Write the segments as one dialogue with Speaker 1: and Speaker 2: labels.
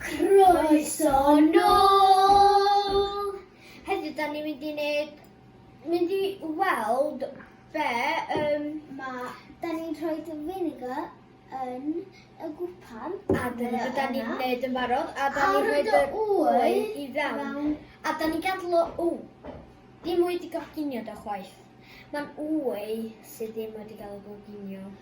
Speaker 1: Croeso nôl! Heddiw da ni'n mynd i wneud, mynd i weld be um, mae... Da ni'n rhoi dy vinegar yn y gwpan. A dyna beth da ni'n gwneud yn barod. A da ni'n rhoi dy wy i fewn. A da ni'n gadw o... O! Dim wedi goginio da chwaith. Mae'n wy sydd ddim wedi cael ei goginio.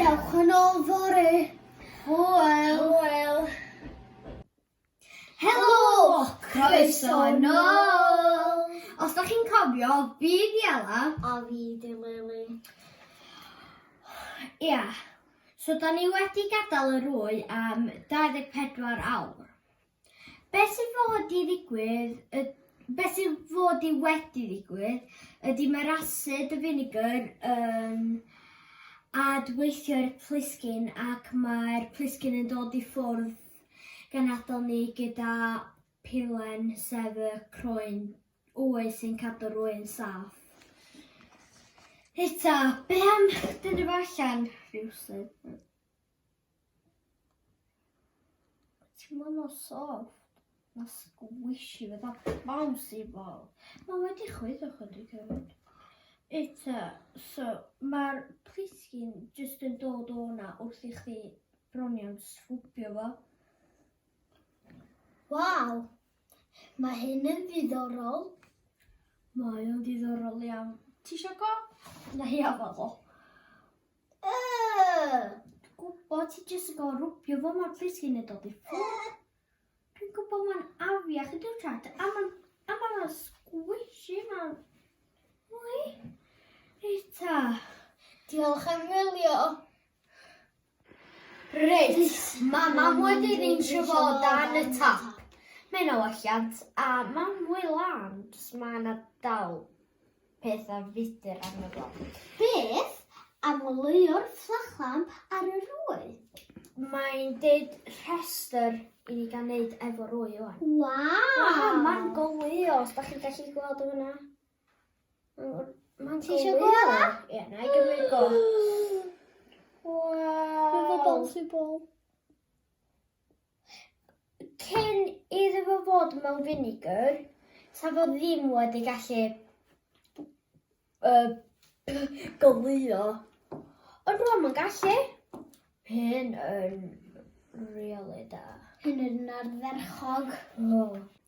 Speaker 1: Dewch yn ôl fore. Hwyl. Hwyl. Helo! Croeso yn ôl! Os da chi'n cofio, fi di Ela. A fi di Lili. Ia. So da ni wedi gadael yr wy am 24 awr. Beth sy'n fod i ddigwydd, y, beth sy'n fod i wedi ddigwydd, ydy mae'r asid y vinegar yn adweithio i'r plisgyn ac mae'r plisgyn yn dod i ffwrdd gan adael ni gyda pilen sef y croen wy sy'n cadw'r wy'n saff. Hita, be am dyn efo allan rhywsyd? Ti'n gwybod mor soft? Na squishy fydda bouncy ball. Mae wedi chwyddo chydig hefyd. Eto, so mae'r plisgyn jyst yn dod o'na wrth i chdi bronio'n sgwbio fo. Waw, mae hyn yn ddiddorol. Mae o'n ddiddorol iawn. Ti eisiau go? Na, ia, fel o. Dwi'n gwybod, ti jyst yn gorfod rwbio fo mor plis cyn ei dod i ffwrdd. Dwi'n gwybod mae'n afiach i dy chat, a mae'n a mae'n squishy mae'n... Wy? Rita. Diolch am wylio. Reit, mae mam wedi reinsio fo dan y tap. Mae'n o alliant, a mae'n mwy lan, jyst mae yna dal peth a fudr arno fo. Beth am oleuo'r fflachlan ar yr ŵyl? Mae'n dweud rhestr i ni gael neud efo rwy o'n. Waw! Mae'n golio, os da chi'n gallu gweld o fyna. Mae'n Ti eisiau gweld o? Ie, na i gymryd go. Waw! Mae'n fo bol sy'n bol. cyn iddo fo fod mewn vinegar, sa fo ddim wedi gallu uh, golio. Ond rwan mae'n gallu. Hyn yn really da. Hyn yn ardderchog. Oh.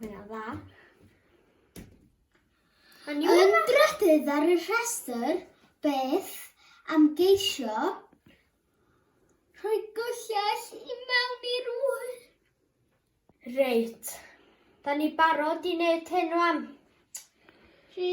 Speaker 1: Mae'n dda. Yn drydydd ar y rhestr, beth am geisio rhoi gyllell i mewn i'r ŵyl? Reit. Da ni barod i wneud hyn rwan. Rhi